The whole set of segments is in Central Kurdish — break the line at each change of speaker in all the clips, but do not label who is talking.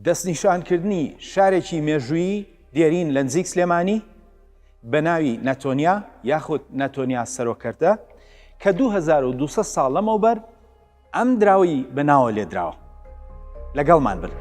دەستنیشانکردنی شارێکی مێژوویی دێرین لە نزیک سلێمانی بە ناوی نەتۆنیا یاخود نەتۆنیا سەرۆکەرتە کە 2200 ساڵ لەمەوبەر ئەم دراوی بە ناوە لێدراوە لەگەڵمان بن.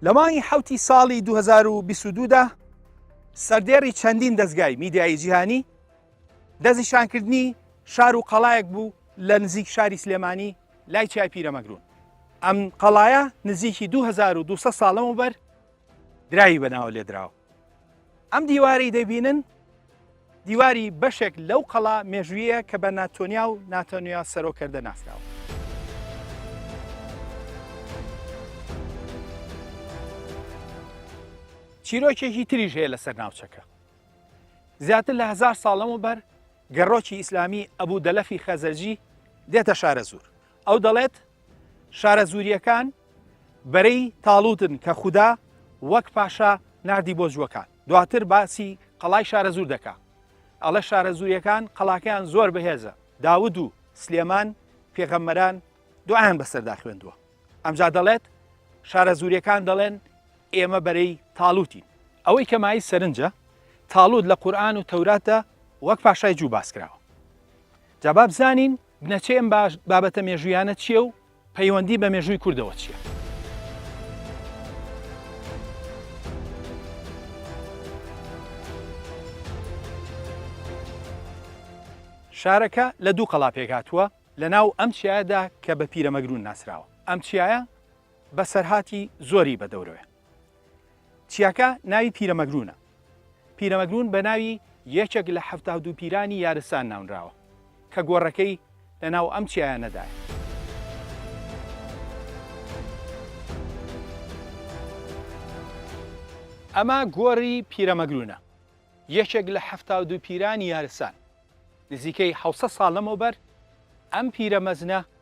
لە مانگی حەوتی ساڵی دوو هەزار و بیست و دوو دا، سەردێڕی چەندین دەزگای میدیایی جیهانی دەستنیشانکردنی شار و قەڵایەک بوو لە نزیک شاری سلێمانی لای چای پیرەمەگرون ئەم قەڵایە نزیکی 2200 ساڵەمە بەر دراوی بەناوە لێدراوە ئەم دیوارەی دەبینن دیواری بەشێک لەو قەڵا مێژوویە کە بە ناتۆنیا و ناتەنویا سەرۆکەردە ناسراوە. چیرۆکێکی تریش هەیە لەسەر ناوچەکە زیاتر لە هزار ساڵەم و بەر گەڕۆکی ئیسلامی ئەبوو دەلەفی خەزەرجی دێتە شارە زور ئەو دەڵێت شارە زوریەکان بەرەی تاڵوتن کە خوددا وەک پاشا نردی بۆ جووەکان دواتر باسی قەڵای شارەزوور دەکا ئەڵێ شارەزووریەکان قەڵاکەیان زۆر بەهێزە داود و سلێمان پێغەممەران دوعایان بەسەردا خوێندووە ئەمجا دەڵێت شارەزووریەکان دەڵێن ئێمە بەرەی تاالوتین ئەوەی کەمایی سەرنجە تاالوت لە قورآن و تەوراتدا وەک پاشای جوو باس کراوە جاباب زانین بنەچەی ئەم بابەتە مێژویانە چییە و پەیوەندی بە مێژووی کوردەوە چییە؟ شارەکە لە دوو قەڵا پێکهاتووە لە ناو ئەم چیایەدا کە بە پیرەمەگروون ناسراوە ئەم چیایە بەسەرهاتی زۆری بە دەورەوەێ. چیاکە ناوی پیرەمەگروونە. پیرەمەگروون بە ناوی یەکێک لە حەفتا و دوو پیرانی یارستان ناونراوە، کە گۆڕەکەی لە ناو ئەم چیایانەدایە. ئەمە گۆڕی پیرەمەگروونە، یەکێک لە حەفتا و دوو پیرانی یارستان. نزیکەی حەوت سەد ساڵ لەمەوبەر ئەم پیرە مەزنە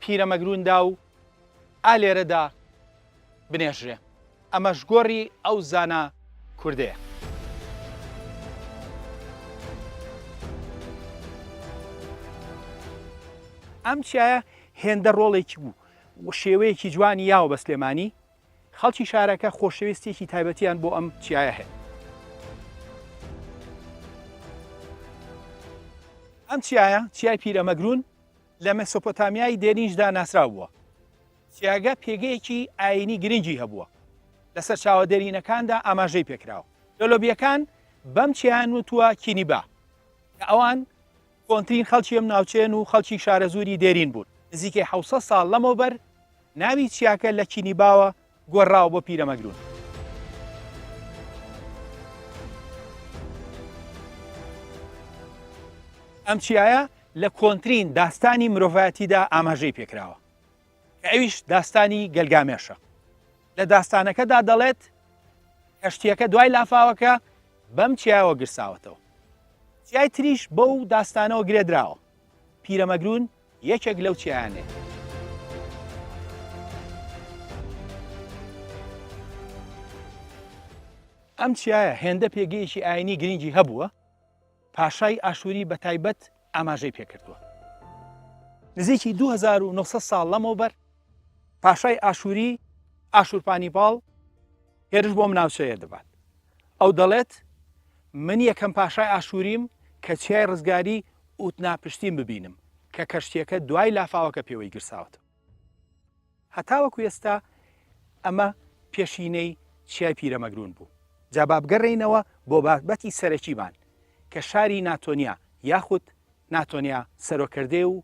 پیرەمەگروندا و ئا لێرەدا بنێژرێ. ئەمەش گۆڕی ئەو زانا کوردەیە. ئەم چیایە هێندە ڕۆڵێکی بوو و شێوەیەکی جوانی یاوە بە سلێمانی، خەڵکی شارەکە خۆشەویستیەکی تایبەتیان بۆ ئەم چیایە هەیە. ئەم چیایە، چیای پیرەمەگرون، لە مێسۆپۆتامیای دێرینیشدا ناسراو بووە. سیاگە پێگەیەکی ئایینی گرنگی هەبووە، لە سەرچاوە دێرینەکاندا ئاماژەی پێکراوە. لۆلۆبییەکان بەم چیایان وتووە کینیبا، کە ئەوان کۆنترین خەڵکی ئەم ناوچەیەن و خەڵکی شارەزووری دێرین بوون. نزیکەی حەوت سەد ساڵ لەمەوبەر ناوی چیاکە لە کینیباوە گۆڕراوە بۆ پیرەمەگرون. ئەم چیایە لە کۆنترین داستانی مرۆڤایەتیدا ئاماژەی پێکراوە کە ئەویش داستانی گەلگامێشە لە داستانەکەدا دەڵێت کەشتیەکە دوای لافاوەکە بەم چیاوە گرساوەتەوە چیای تریش بەو داستانەوە گرێدراوە پیرەمەگرون یەکێک لەو چیانەی. ئەم چیایە هێندە پێگەیەکی ئاینی گرنگی هەبووە پاشای ئاشووری بە تایبەت ئاماژەی پێکردووە نزیکی 2900 ساڵ لەمەوبەر پاشای ئاشووری ئاشورپانی باڵ هێرش بۆم ناوچەیە دەبات ئەو دەڵێت، من یەکەم پاشای ئاشوریم کە چیای ڕزگاری ئوتناپشتیم ببینم، کە کەشتییەکە دوای لافاوەکە پێوەی گرساوەتەوە. هەتاوەکو ئێستا ئەمە پێشینەی چیای پیرەمەگرون بوو. جا با بگەڕێینەوە بۆ بابەتی سەرەکیمان کە شاری ناتۆنیا یاخود ناتۆنیا سەرۆکردەیە و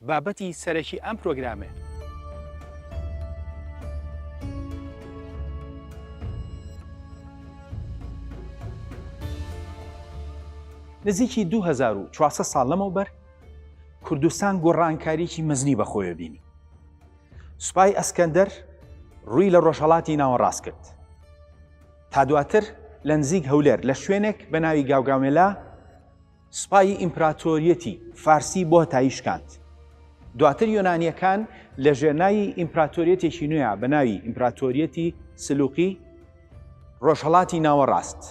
بابەتی سەرەکی ئەم پرۆگرامەیە. نزیکی دوو هەزار و چوار سەد ساڵ لەمەوبەر کوردستان گۆڕانکاریی مەزنی بەخۆیەوە بینی. سوپای ئەسکەندەر ڕووی لە ڕۆژهەڵاتی ناوەڕاست کرد. تا دواتر لە نزیک هەولێر لە شوێنێک بە ناوی گاوگامێلا، سوپای ئیمپراتۆریەتی فارسی بۆ هەتایی شکاند. دواتر یۆنانییەکان لە ژێرناوی ئیمپراتۆریەتێکی نوێ بە ناوی ئیمپراتۆریەتی سلوقی ڕۆژهەڵاتی ناوەڕاست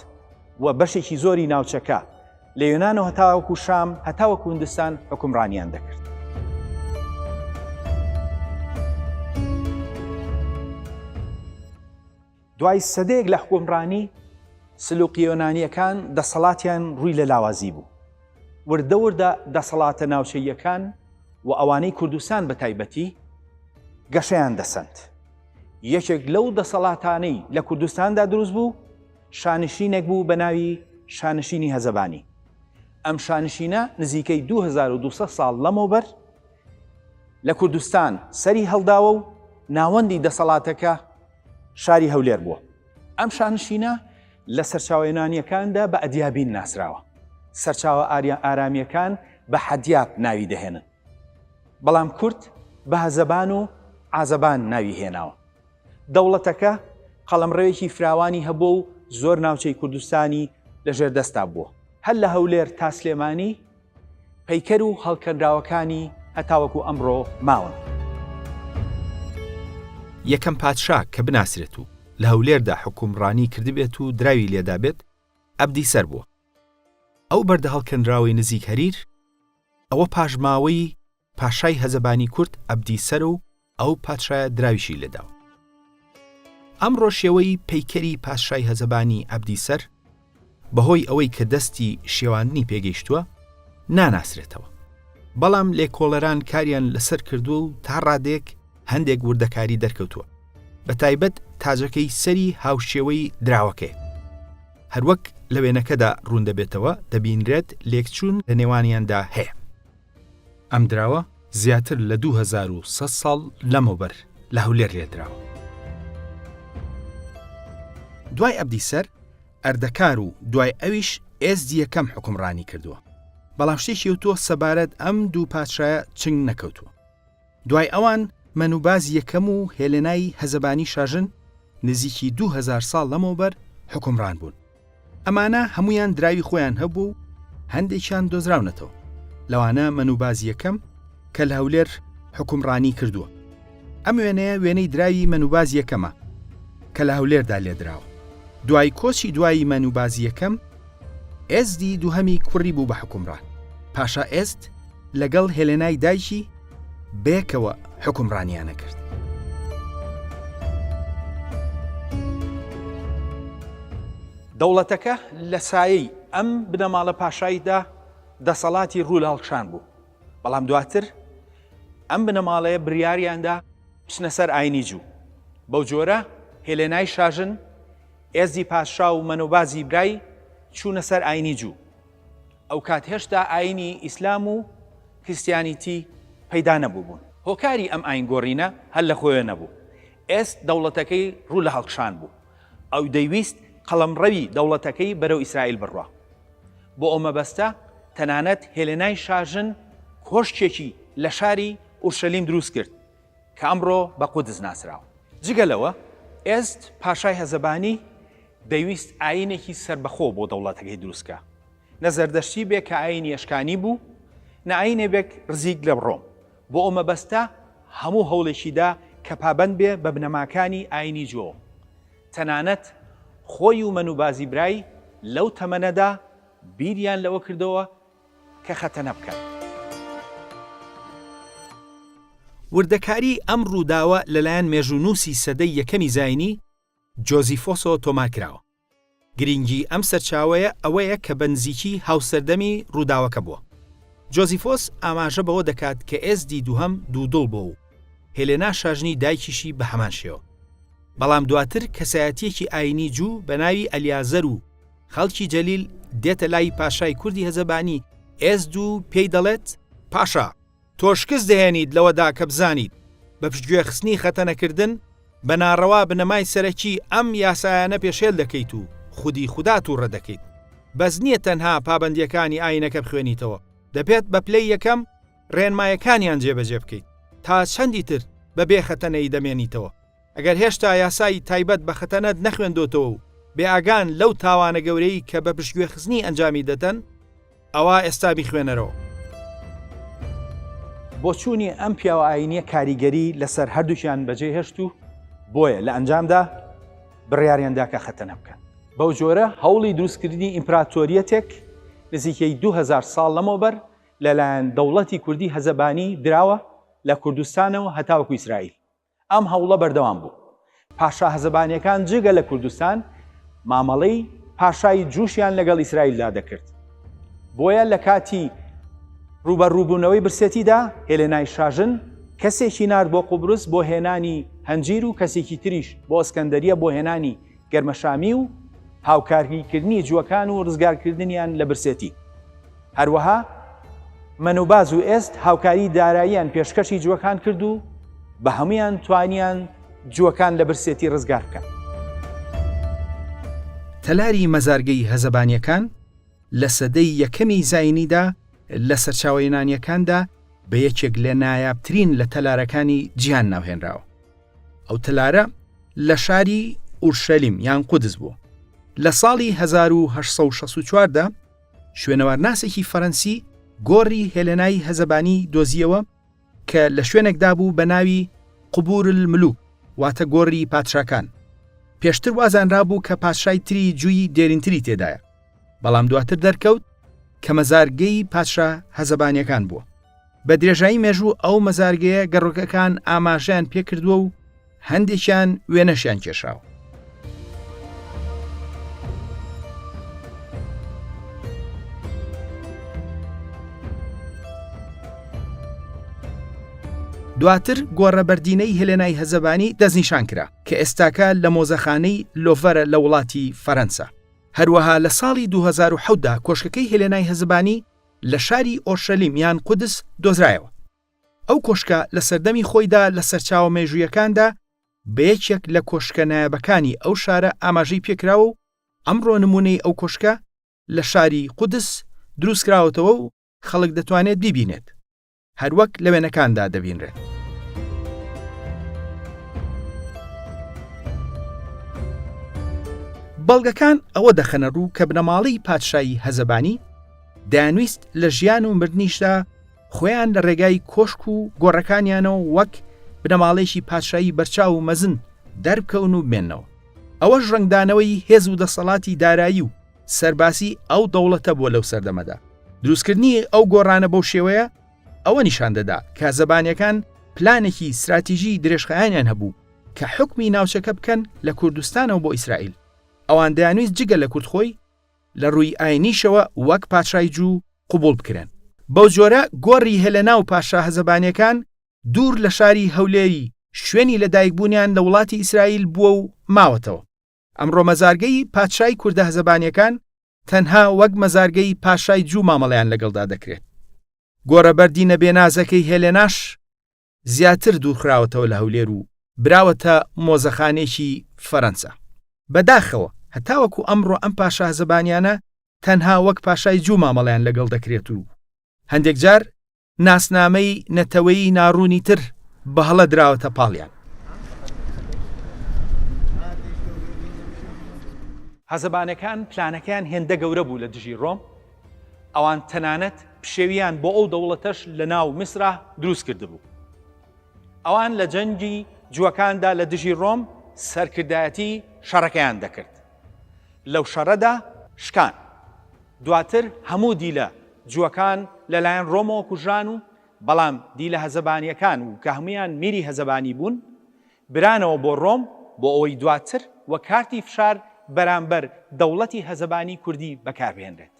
و بەشێکی زۆری ناوچەکە لە یۆنانەوە هەتاوەکو شام هەتاوەکو هندستان حوکمڕانیان دەکرد. دوای سەدەیەک لە حوکمڕانی، سلوقیە یۆنانییەکان دەسەڵاتیان ڕووی لە لاوازی بوو. وردە وردە دەسەڵاتە ناوچەییەکان و ئەوانەی کوردستان بە تایبەتی، گەشەیان دەسەند. یەکێک لەو دەسەڵاتانەی لە کوردستاندا دروست بوو، شانشینێک بوو بە ناوی شانشینی هەزەبانی. ئەم شانشینە نزیکەی دوو هەزار و دوو سەد ساڵ لەمەوبەر لە کوردستان سەری هەڵداوە و ناوەندی دەسەڵاتەکە، شاری هەولێر بووە. ئەم شانشینە لە سەرچاوە یۆنانییەکاندا بە ئەدیابین ناسراوە. سەرچاوە ئاریان-ئارامییەکان بە حەدیاب ناوی دەهێنن. بەڵام کورد بە هەزەبان و عازەبان ناوی هێناوە. دەوڵەتەکە قەڵەمڕەوێکی فراوانی هەبووە و زۆر ناوچەی کوردستانی لە ژێر دەستدا بووە. هەر لە هەولێر تا سلێمانی پەیکەر و هەڵکەنراوەکانی هەتاوەکو ئەمڕۆ ماون.
یەکەم پادشا کە بناسرێت و لە هەولێردا حوکومڕانیی کردبێت و دراوی لێدابێت، ئەبدی سەر بووە. ئەو بەردە هەڵکەنراوەی نزیک هەریر، ئەوە پاشماوەی پاشای هەزەبانی کورد ئەبدی سەر و ئەو پادشایە دراویشی لێدا و. ئەمڕۆ شێوەی پەیکەری پادشای هەزەبانی ئەبدی سەر بەهۆی ئەوەی کە دەستی شێواندنی پێگەیشتووە ناناسرێتەوە. بەڵام لێکۆڵەران کاریان لەسەر کردووە و تا ڕادەیەک هەندێک وردەکاری دەرکەوتووە بە تایبەت تاجەکەی سەری هاوشێوەی دراوەکەیە. هەروەک لە وێنەکەدا ڕوون دەبێتەوە دەبینرێت لێکچوون لە نێوانیاندا هەیە. ئەم دراوە زیاتر لە دوو هەزار و سەد ساڵ لەمەوبەر لە هەولێر لێدراوە. دوای عەبدی سەر ئەردەکار و دوای ئەویش ئێزدی یەکەم حوکمڕانی کردووە، بەڵام شتێکی وتووە سەبارەت ئەم دوو پادشایە چنگ نەکەوتووە. دوای ئەوان مەنوباز یەکەم و هێلێنای هەزەبانی شاژن نزیکی دوو هەزار ساڵ لەمەوبەر حوکمڕان بوون. ئەمانە هەموویان دراوی خۆیان هەبوو و هەندێکیان دۆزراونەتەوە، لەوانە مەنوباز یەکەم کە لە هەولێر حوکمڕانی کردووە. ئەم وێنەیە وێنەی دراوی مەنوباز یەکەمە کە لە هەولێردا لێدراوە. دوای کۆچی دوایی مەنوباز یەکەم، ئێزدی دووهەمی کوڕی بوو بە حوکمڕان. پاشا ئێزد، لەگەڵ هێلێنای دایکی بەیەکەوە حوکمڕانیانە کرد.
دەوڵەتەکە لە سایەی ئەم بنەماڵە پاشاییدا دەسەڵاتی ڕوو لە هەڵکشان بوو، بەڵام دواتر ئەم بنەماڵەیە بریاریاندا بچنە سەر ئاینی جوو. بەو جۆرە هێلێنای شاژن، ئێزدی پادشا و مەنۆبازی برای چوونە سەر ئاینی جوو، ئەوکات هێشتا ئاینی ئیسلام و کریستیانیتی پەیدا نەبووبوون. هۆکاری ئەم ئاین گۆڕینە هەر لە خۆێ نەبوو. ئێست دەوڵەتەکەی ڕوو لە هەڵکشان بوو. ئەو دەیویست قەڵەمڕەوی دەوڵەتەکەی بەرەو ئیسرائیل بڕوا. بۆ ئەو مەبەستە تەنانەت هێلێنای شاژن کۆشکێکی لە شاری ئورشەلیم دروست کرد. کە ئەمڕۆ بە قودس ناسراوە. جگە لەوە، ئێزد پاشای هەزەبانی دەیویست ئایینێکی سەربەخۆ بۆ دەوڵەتەکەی دروست کا، نە زەردەشتی بێ کە ئایینی ئەشکانی بوو، نە ئایینێ بێک رزیک لە رۆم، بۆ ئەو مەبەستە هەموو هەوڵێکی دا کە پابەند بێ بە بنەماکانی ئایینی جۆو. تەنانەت خۆی و مەنوبازی برای لەو تەمەنەدا بیریان لەوە کردەوە کە خەتەنە بکەن.
وردەکاریی ئەم ڕووداوە لەلایەن مێژوونووسی سەدەی یەکەمی زاینی، جۆزیفۆسۆ تۆمار کراوە. گرینگیی ئەم سەرچاوەیە ئەوەیە کە بە نزیکی هاوسەردەمی ڕووداوەکە بووە. جۆزیفۆس ئاماژە بەوە دەکات کە ئێزدی دووهەم دوودڵ بووە و هێلێنا شاژنی دایکیشی بە هەمان شێوە. بەڵام دواتر کەسایەتییەکی ئایینی جوو بە ناوی ئەلیازەر و، خەڵکی جەلیل دێتە لای پاشای کوردی هەزەبانی ئێزد و پێی دەڵێت، پاشا، تۆ شکست دەهێنیت لەوەدا کە بزانیت بە پشتگوێخستنی خەتەنەکردن بە ناڕەوا بنەمای سەرەکی ئەم یاسایانە پێشێل دەکەیت و خودی خودا تووڕە دەکەیت، بەس نییە تەنها پابەندییەکانی ئایینەکە بخوێنیتەوە، دەبێت بە پلەی یەکەم ڕێنمایەکانیان جێبەجێ بکەیت، تا چەندی تر بەبێ خەتەنەیی دەمێنیتەوە؟ ئەگەر هێشتا یاسای تایبەت بە خەتەنەت نەخوێندۆتەوە و بێ ئاگان لەو تاوانە گەورەی کە بە پشتگوێخستنی ئەنجامی دەدەن، ئەوا ئێستا بیخوێنەرەوە.
بۆچوونی ئەم پیاوە ئایینییە کاریگەری لەسەر هەردووکیان بەجێ هێشت و بۆیە لە ئەنجامدا بڕیاریان دا کە خەتەنە بکەن. بەو جۆرە هەوڵی دروستکردنی ئیمپراتۆریەتێک نزیکەی دوو هەزار ساڵ لەمەوبەر لەلایەن دەوڵەتی کوردی هەزەبانی دراوە لە کوردستانەوە هەتاوەکو ئیسرائیل. ئەم هەوڵە بەردەوام بوو. پاشا هەزەبانیەکان جگە لە کوردستان مامەڵەی پاشای جوشیان لەگەڵ ئیسرائیلدا دەکرد. بۆیە لە کاتی ڕووبەڕووبوونەوەی برسێتیدا هێلێنای شاژن کەسێکی نارد بۆ قوبرس بۆ هێنانی هەنجیر و کەسێکی تریش بۆ ئەسکەندەریە بۆ هێنانی گەرمەشامی و هاوکاریکردنی جووەکان و ڕزگارکردنیان لە برسێتی. هەروەها مەنوباز و ئێست هاوکاری داراییان پێشکەشی جووەکان کرد و بە هەموویان توانیان جووەکان لە برسێتی ڕزگار بکەن.
تەلاری مەزارگەی هەزەبانییەکان لە سەدەی یەکەمی زاینیدا لە سەرچاوە یۆنانییەکاندا بە یەکێک لە نایابترین لە تەلارەکانی جیهان ناوهێنراوە. ئەو تەلارە لە شاری ئورشەلیم یان قودس بوو لە ساڵی 1964دا شوێنەوارناسێکی فەرەنسی گۆڕی هێلێنای هەزەبانی دۆزیەوە کە لە شوێنێکدا بوو بە ناوی قوبور الملوک واتە گۆڕی پادشاکان پێشتر وازانرا بوو کە پادشای تری جووی دێرینتری تێدایە بەڵام دواتر دەرکەوت کە مەزارگەی پادشا هەزەبانیەکان بووە بە درێژایی مێژوو ئەو مەزارگەیە گەڕۆکەکان ئاماژەیان پێکردووە و هەندێکیان وێنەشیان کێشاوە دواتر گۆڕە بەردینەی هێلێنای هەزەبانی دەستنیشان کرا کە ئێستاکە لە مۆزەخانەی لۆڤەرە لە وڵاتی فەرەنسا هەروەها لە ساڵی 2010دا کۆشکەکەی هێلێنای هەزبانی لە شاری ئۆرشەلیم یان قودس دۆزرایەوە. ئەو کۆشکە لە سەردەمی خۆیدا لە سەرچاوە مێژوویەکاندا بە یەکێک لە کۆشکە نایابەکانی ئەو شارە ئاماژەی پێکراوە و ئەمڕۆ نموونەی ئەو کۆشکە لە شاری قودس دروستکراوەتەوە و خەڵک دەتوانێت بیبینێت. هەروەک لە وێنەکاندا دەبینرێت. بەڵگەکان ئەوە دەخەنە ڕوو کە بنەماڵەی پادشایی هەزەبانی دانویست لە ژیان و مردنیشدا خۆیان لە ڕێگای کۆشک و گۆڕەکانیانەوە وەک بنەماڵێکی پادشایی بەرچاو و مەزن دەربکەون و بمێنەوە ئەوەش ڕنگدانەوەی هێز و دەسەڵاتی دارایی و سەربازی ئەو دەوڵەتە بووە لەو سەردەمەدا دروستکردنی ئەو گۆڕانە بەو شێوەیە ئەوە نیشان دەدا کە زەبانەکان پلانێکی استراتیژی درێژخایانیان هەبوو کە حکمی ناوچەکە بکەن لە کوردستانەوە بۆ ئیسرائیل ئەوان دەیانویست جگە لە کورد خۆی لە ڕووی ئاینیشەوە وەک پاشای جوو قوبوڵ بکرێن بەو جۆرە گۆڕی هێلەنا و پاشا هەزەبانیەکان دوور لە شاری هەولێری شوێنی لە دایکبوونیان لە وڵاتی ئیسرائیل بووە و ماوەتەوە ئەمڕۆ مەزارگەی پادشای کوردە زەبانیەکان تەنها وەک مەزارگەی پاشای جوو مامەڵەیان لەگەڵدا دەکرێت. گۆڕە بەردی نەبێنازەکەی هێلێناش زیاتر دوورخراوەتەوە لە هەولێر و براوەتە مۆزەخانێکی فەرەنسا. بەداخەوە هەتاوەکو ئەمڕۆ ئەم پاشا زەبانیانە تەنها وەک پاشای جوو مامەڵەیان لەگەڵ دەکرێت و هەندێک جار ناسنامەی نەتەوەیی ناڕوونی تر بەهەڵە دراوەتە پاڵیان.
هەزەبانەکان پلانەکەیان هێندە گەورە بوو لە دژی ڕۆم، ئەوان تەنانەت پشێویان بۆ ئەو دەوڵەتەش لە ناو میسرا دروست کردبوو. ئەوان لە جەنگی جووەکاندا لە دژی ڕۆم سەرکردایەتی شەڕەکەیان دەکرد. لەو شەڕەدا شکان. دواتر هەموو دیلە جووەکان لە لایەن ڕۆمەوە کوژران و بەڵام دیلە هەزەبانییەکان و کە هەموویان میری هەزەبانی بوون برانەوە بۆ ڕۆم بۆ ئەوەی دواتر وەک کارتی فشار بەرامبەر دەوڵەتی هەزەبانی کوردی بەکار بهێنرێت.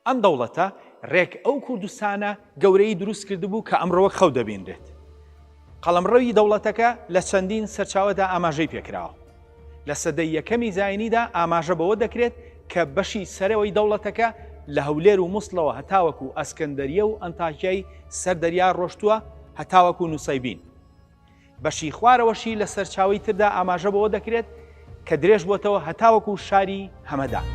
ئەم دەوڵەتە ڕێک ئەو کوردستانە گەورەی دروست کردبوو کە ئەمڕۆ وەک خەو دەبینرێت. قەڵەمڕەوی دەوڵەتەکە لە چەندین سەرچاوەدا ئاماژەی پێکراوە. لە سەدەی یەکەمی زایینیدا ئاماژە بەوە دەکرێت کە بەشی سەرەوەی دەوڵەتەکە لە هەولێر و موسڵەوە هەتاوەکو ئەسکەندەریە و ئەنتاکیای سەر دەریا ڕۆشتووە هەتاوەکو نوسەیبین. بەشی خوارەوەشی لە سەرچاوەی تردا ئاماژە بەوە دەکرێت کە درێژبۆتەوە هەتاوەکو شاری هەمەدان.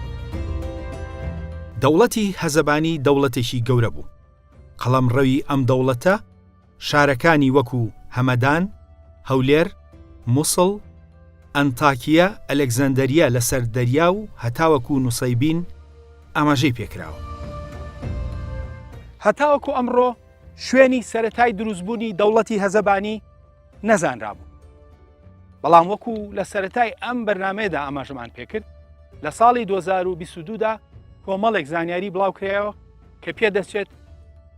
دەوڵەتی
هەزەبانی دەوڵەتێکی گەورە بوو. قەڵەمڕەوی ئەم دەوڵەتە، شارەکانی وەکو هەمەدان، هەولێر، موسڵ، ئەنتاکیە، ئەلێکزەندەریە لەسەر دەریا و هەتاوەکو نوسەیبین ئاماژەی پێکراوە.
هەتاوەکو ئەمڕۆ شوێنی سەرەتای دروستبوونی دەوڵەتی هەزەبانی نەزانرابوو، بەڵام وەکو لە سەرەتای ئەم بەرنامەیەدا ئاماژەمان پێکرد لە ساڵی دوو هەزار و بیست و دوو دا کۆمەڵێک زانیاری بڵاوکرایەوە، کە پێدەچێت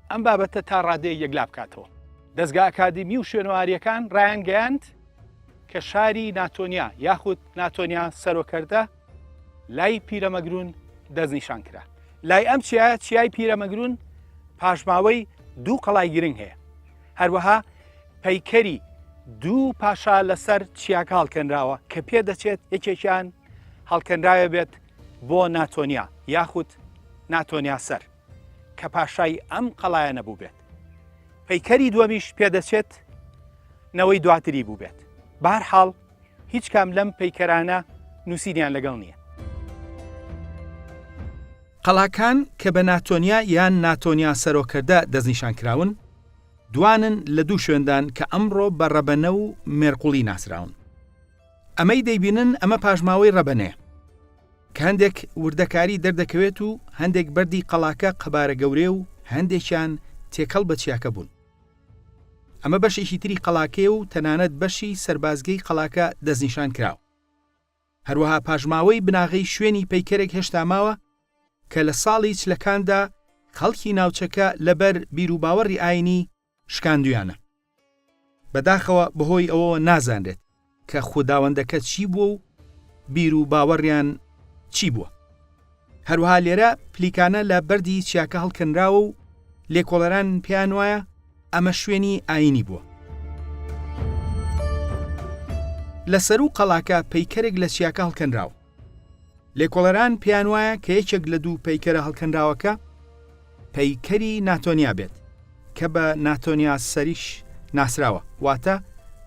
ئەم بابەتە تا ڕادەیە یەکلا بکاتەوە. دەزگا ئەکادیمی و شوێنەواریەکان ڕایانگەیاند کە شاری ناتۆنیا یاخود ناتۆنیا سەرۆکەردە لای پیرەمەگرون دەستنیشان کرا. لای ئەم چیا چیای پیرەمەگرون پاشماوەی دوو قەڵای گرنگ هەیە. هەروەها پەیکەری دوو پاشا لەسەر چیاکە هەڵکەنراوە کە پێدەچێت یەکێکیان هەڵکەنراوێ بێت بۆ ناتۆنیا یاخود ناتۆنیاسەر کە پاشای ئەم قەڵایەنە بووبێت پەیکەری دووەمیش پێدەچێت نەوەی دواتری بووبێت بار حاڵ هیچ کام لەم پەیکەرانە نووسینیان لەگەڵ نییە
قەڵاکان کە بە ناتۆنیا یان ناتۆنیا سەرۆکەردە دەستنیشان کراون دوانن لە دوو شوێندان کە ئەمڕۆ بە ڕەبەنە و مێرقوڵی ناسراون ئەمەی دەیبینن ئەمە پاشماوەی ڕەبەنێ کە هەندێک وردەکاری دەردەکەوێت و هەندێک بەردی قەڵاکە قەبارە گەورێ و هەندێکیان تێکەڵ بە چیاکە بوون ئەمە بەشێکی تری قەڵاکەیە و تەنانەت بەشی سەربازگەی قەڵاکە دەستنیشان کراوە هەروەها پاشماوەی بناغەی شوێنی پەیکەرێک هێشتا ماوە کە لە ساڵی چلەکاندا خەڵکی ناوچەکە لەبەر بیروباوەڕی ئاینی شکاندویانە. بەداخەوە بەهۆی ئەوەوە نازانرێت کە خوداوەندەکە چی بووە و بیر و باوەڕیان چی بووە. هەروەها لێرە پلیکانە لە بەردی چیاکە هەڵکەنراوە و لێکۆڵەران پێیان وایە ئەمە شوێنی ئاینی بووە. لە سەروو قەڵاکە پەیکەرێک لە چیاکە هەڵکەنراوە. لێکۆڵەران پێیان وایە کە یەکێک لە دوو پەیکەرە هەڵکەنراوەکە پەیکەری ناتۆنیا بێت کە بە ناتۆنیا سەریش ناسراوە واتە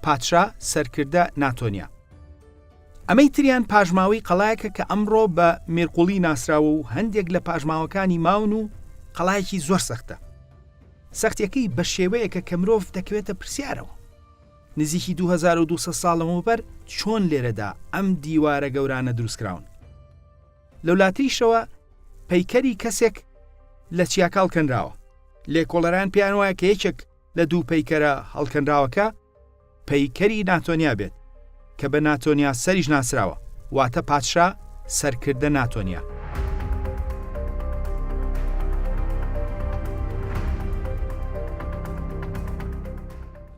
پادشا سەرکردە ناتۆنیا ئەمەی تریان پاژماوەی قەڵایەکە کە ئەمڕۆ بە مێرقوڵی ناسراوە و هەندێک لە پاژماوەکانی ماون و قەڵایەکی زۆر سەختە سەختیەکەی بە شێوەیەکە کە مرۆڤ دەکەوێتە پرسیارەوە نزیکی دوو هەزار و دوو سەد ساڵ لەمەوبەر چۆن لێرەدا ئەم دیوارە گەورانە دروستکراون؟ لەولاتریشەوە پەیکەری کەسێک لە چیاکە هەڵکەنراوە. لێکۆڵەران پێیان وایە کە یەکێک لە دوو پەیکەرە هەڵکەنراوەکە پەیکەری ناتۆنیا بێت، کە بە ناتۆنیا سەریش ناسراوە، واتە پادشا، سەرکردە ناتۆنیا.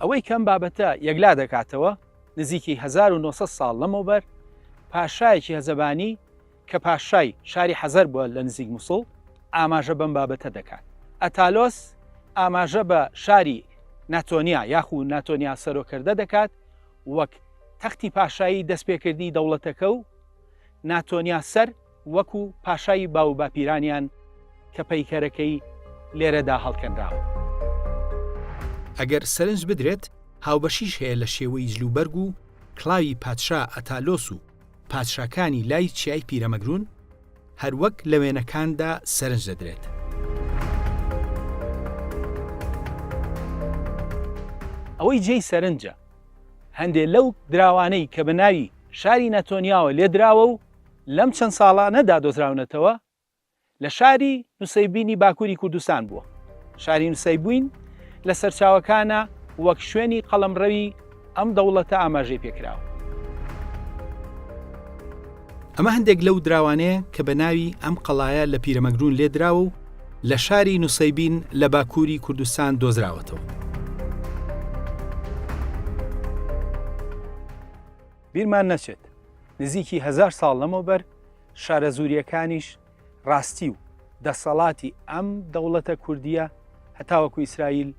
ئەوەی کە ئەم بابەتە یەکلا دەکاتەوە، نزیکی هەزار و نۆ سەد ساڵ لەمەوبەر پاشایەکی هەزەبانی کە پاشای شاری حەزەر بووە لە نزیک موسڵ، ئاماژە بەم بابەتە دەکات. ئەتالۆس ئاماژە بە شاری ناتۆنیا یاخو ناتۆنیا سەرۆکردە دەکات، وەک تەختی پاشایی دەستپێکردنی دەوڵەتەکە و ناتۆنیا سەر وەکو پاشای باوباپیرانیان کە پەیکەرەکەی لێرەدا هەڵکەنراوە.
ئەگەر سەرنج بدرێت هاوبەشیش هەیە لە شێوەی جلوبەرگ و کڵاوی پادشا ئەتالۆس و پادشاکانی لای چیای پیرەمەگرون هەروەک لە وێنەکاندا سەرنج دەدرێت.
ئەوەی جێی سەرنجە هەندێ لەو دراوانەی کە بە ناوی شاری نەتۆنیاوە لێ دراوە و لەم چەند ساڵانە دا دۆزراونەتەوە، لە شاری نوسەیبینی باکووری کوردستان بووە. شاری نوسەیبوین لە سەرچاوەکانا وەک شوێنی قەڵەمڕەوی ئەم دەوڵەتە ئاماژەی پێ کراوە.
ئەمە هەندێک لەو دراوانەیە کە بە ناوی ئەم قەڵایە لە پیرەمەگروون لێ دراوە و، لە شاری نوسەیبین لە باکووری کوردستان دۆزراوەتەوە.
بیرمان نەچێت نزیکی هزار ساڵ لەمەوبەر شارەزووریەکانیش ڕاستی و دەسەڵاتی ئەم دەوڵەتە کوردیە هەتاوەکو ئیسرائیل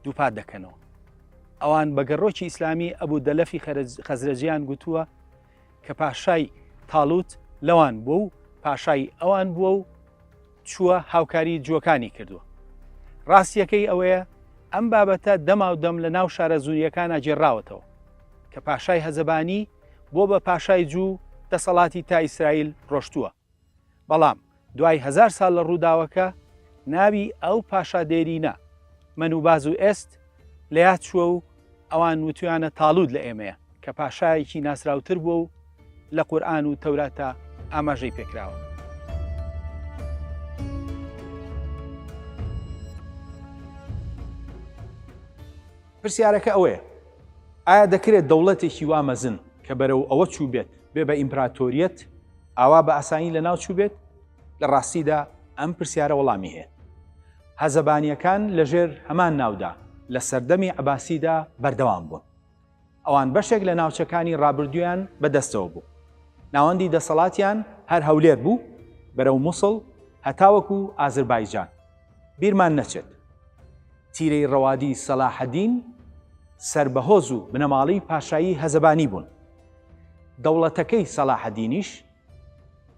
دووپات دەکەنەوە. ئەوان بە گەڕۆکی ئیسلامی ئەبوو دەلەفی خەزرەجیان گوتووە کە پاشای تاڵوت لەوان بووە و پاشای ئەوان بووە و چووە هاوکاری جووەکانی کردووە ڕاستیەکەی ئەوەیە ئەم بابەتە دەما و دەم لە ناو شارە زوریەکانە جێراوەتەوە کە پاشای هەزەبانی بۆ بە پاشای جوو دەسەڵاتی تا ئیسرائیل ڕۆشتووە بەڵام دوای هەزار سال لە ڕووداوەکە ناوی ئەو پاشا دێرینە، من و باز و ئێست، لە یاد چووە و ئەوان وتویانە تاڵوت لە ئێمەیە، کە پاشایەکی ناسراوتر بووە و لە قورئان و تەوراتا ئاماژەی پێکراوە. پرسیارەکە ئەوەیە ئایا دەکرێت دەوڵەتێکی وا مەزن کە بەرەو ئەوە چووبێت بێ بە ئیمپراتۆریەت، ئاوا بە ئاسانی لەناو چووبێت؟ لە ڕاستیدا ئەم پرسیارە وەڵامی هەیە. هەزەبانییەکان لەژێر هەمان ناودا لە سەردەمی عەباسیدا بەردەوام بوون. ئەوان بەشێک لە ناوچەکانی ڕابردوویان بەدەستەوە بوو. ناوەندی دەسەڵاتیان هەر هەولێر بوو بەرەو موسڵ هەتاوەکو ئازربایجان. بیرمان نەچێت تیرەی ڕەوادی سەلاحەدین سەر بە هۆز و بنەماڵەی پاشایی هەزەبانی بوون. دەوڵەتەکەی سەلاحەدینیش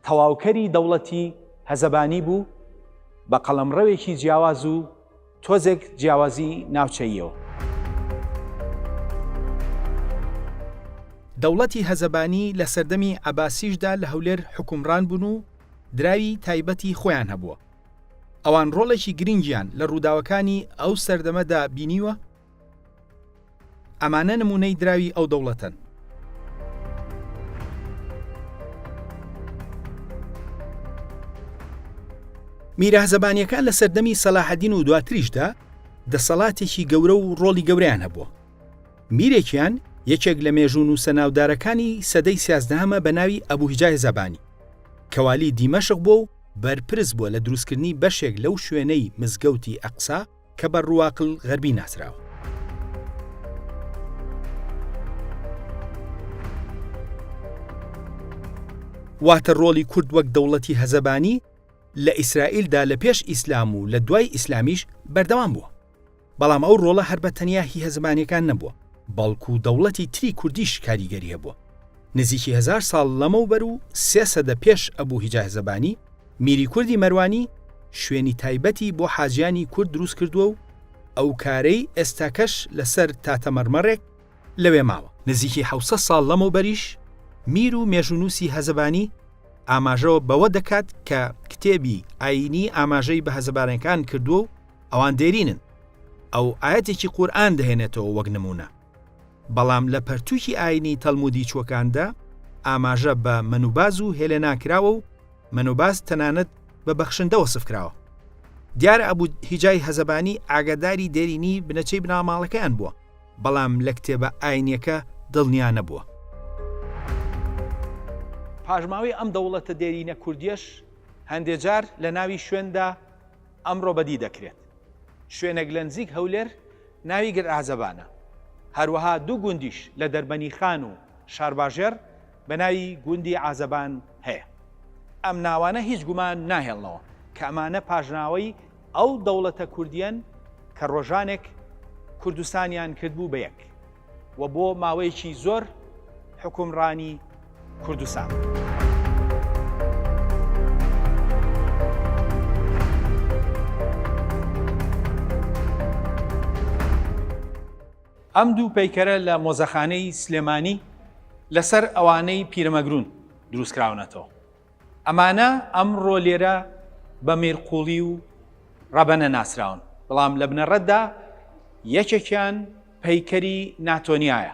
تەواوکەری دەوڵەتی هەزەبانی بوو بە قەڵەمڕەوێکی جیاواز و تۆزێک جیاوازی ناوچەییەوە.
دەوڵەتی هەزەبانی لە سەردەمی عەباسیشدا لە هەولێر حوکمڕان بوون و دراوی تایبەتی خۆیان هەبووە. ئەوان ڕۆڵێکی گرنگیان لە ڕووداوەکانی ئەو سەردەمەدا بینیوە، ئەمانە نموونەی دراوی ئەو دەوڵەتەن. میرە زەبانیەکان لە سەردەمی سەلاحەدین و دواتریشدا دەسەڵاتێکی گەورە و ڕۆڵی گەوریان هەبووە میرێکیان یەکێک لە مێژوون و سەناودارەکانی سەدەی سیازدەهەمە بە ناوی ئەبوهجای زەبانی کەوالی دیمەشق بووە و بەرپرس بووە لە دروستکردنی بەشێک لەو شوێنەی مزگەوتی ئەقسا کە بە ڕواقل غەربی ناسراوە. واتە ڕۆڵی کورد وەک دەوڵەتی هەزەبانی لە ئیسرائیلدا لە پێش ئیسلام و لە دوای ئیسلامیش بەردەوام بووە بەڵام ئەو ڕۆڵە هەر بە تەنیا هی هەزمانەکان نەبووە بەڵکو دەوڵەتی تری کوردیش کاریگەری هەبووە نزیکی هەزار ساڵ لەمەوبەر و سێ سەدە پێش ئەبو هیجاه زەبانی، میری کوردی مەروانی، شوێنی تایبەتی بۆ حاجیانی کورد دروست کردووە و ئەو کارەی ئێستاکەش لەسەر تاتەمەڕمەڕێک لەوێ ماوە. نزیکی حەوت سەد ساڵ لەمەوبەریش میر و مێژوونووسی هەزەبانی ئاماژە بەوە دەکات کە کتێبی ئایینی ئاماژەی بە هەزەبانەکان کردووە و ئەوان دێرینن. ئەو ئایەتێکی قورئان دەهێنێتەوە وەک نموونە. بەڵام لە پەرتووکی ئایینی تەلمودی چووەکاندا ئاماژە بە مەنوباز و هێلێنا کراوە و مەنوباز تەنانەت بە بەخشندە وەسف کراوە. دیار ئەبو هیجای هەزەبانی ئاگاداری دێرینی بنەچەی بناڵماڵەکەیان بووە، بەڵام لە کتێبە ئایینییەکە دڵنیا نەبووە.
پاشماوەی ئەم دەوڵەتە دێرینە کوردییەش هەندێ جار لە ناوی شوێندا ئەمڕۆ بەدی دەکرێت. شوێنێک لە نزیک هەولێر ناوی گرعەزەبانە. هەروەها دوو گوندیش لە دەربەنیخان و شارباژێڕ بە ناوی گوندی عازەبان هەیە. ئەم ناوانە هیچ گومان ناهێڵنەوە کە ئەمانە پاشناوەی ئەو دەوڵەتە کوردییەن کە ڕۆژانێک کوردستانیان کردبوو بە یەک و بۆ ماوەیەکی زۆر حوکمڕانی کوردستان. ئەم دوو پەیکەرە لە مۆزەخانەی سلێمانی لەسەر ئەوانەی پیرەمەگرون دروستکراونەتەوە ئەمانە ئەمڕۆ لێرە بە مێرقوڵی و ڕەبەنە ناسراون بەڵام لە بنەڕەتدا یەکێکیان پەیکەری ناتۆنیایە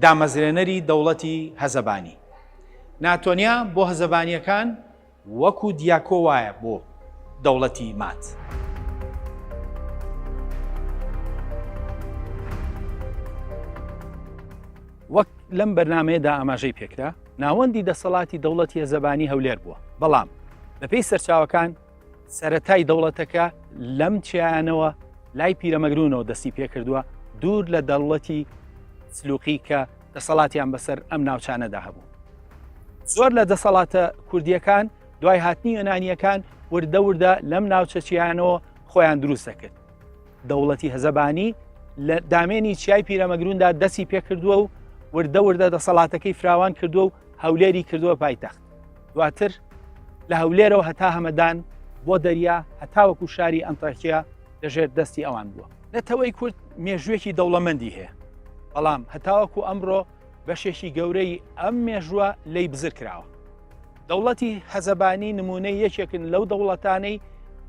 دامەزرێنەری دەوڵەتی هەزەبانی ناتۆنیا بۆ هەزەبانیەکان وەکو دیاکۆ وایە بۆ دەوڵەتی مات. وەک لەم بەرنمەیەدا ئاماژەی پێکرا ناوەندی دەسەڵاتی دەوڵەتی هەزەبانی هەولێر بووە بەڵام بەپێی سەرچاوەکان سەرەتای دەوڵەتەکە لەم چیانەوە لای پیرەمەگرونەوە دەستی پێکردووە دوور لە دەوڵەتی سلوقی کە دەسەڵاتیان بەسەر ئەم ناوچانەدا هەبوو زۆر لە دەسەڵاتە کوردیەکان دوای هاتنی یۆنانیەکان وردە وردە لەم ناوچەچیانەوە خۆیان دروست دەکرد دەوڵەتی هەزەبانی لە دامێنی چیای پیرەمەگروندا دەستی پێکردووە و وردە وردە دەسەڵاتەکەی فراوان کردووە و هەولێری کردووە پایتەخت دواتر لە هەولێرەوە هەتا هەمەدان بۆ دەریا هەتاوەکو شاری ئەنتاکیە لەژێر دەستی ئەوان بووە نەتەوەی کورد مێژوێکی دەوڵەمەندی هەیە بەڵام هەتاوەکو ئەمڕۆ بەشێکی گەورەی ئەم مێژووە لی بزر کراوە دەوڵەتی حەزەبانی نمونەی یەکێکن لەو دەوڵەتانەی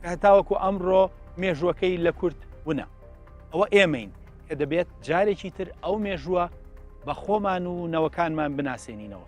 کە هەتاوەکو ئەمڕۆ مێژوەکەی لە کورد ونە ئەوە ئێمەین کە دەبێت جارێکی تر ئەو مێژووە بە خۆمان و نەوەکانمان بناسێنینەوە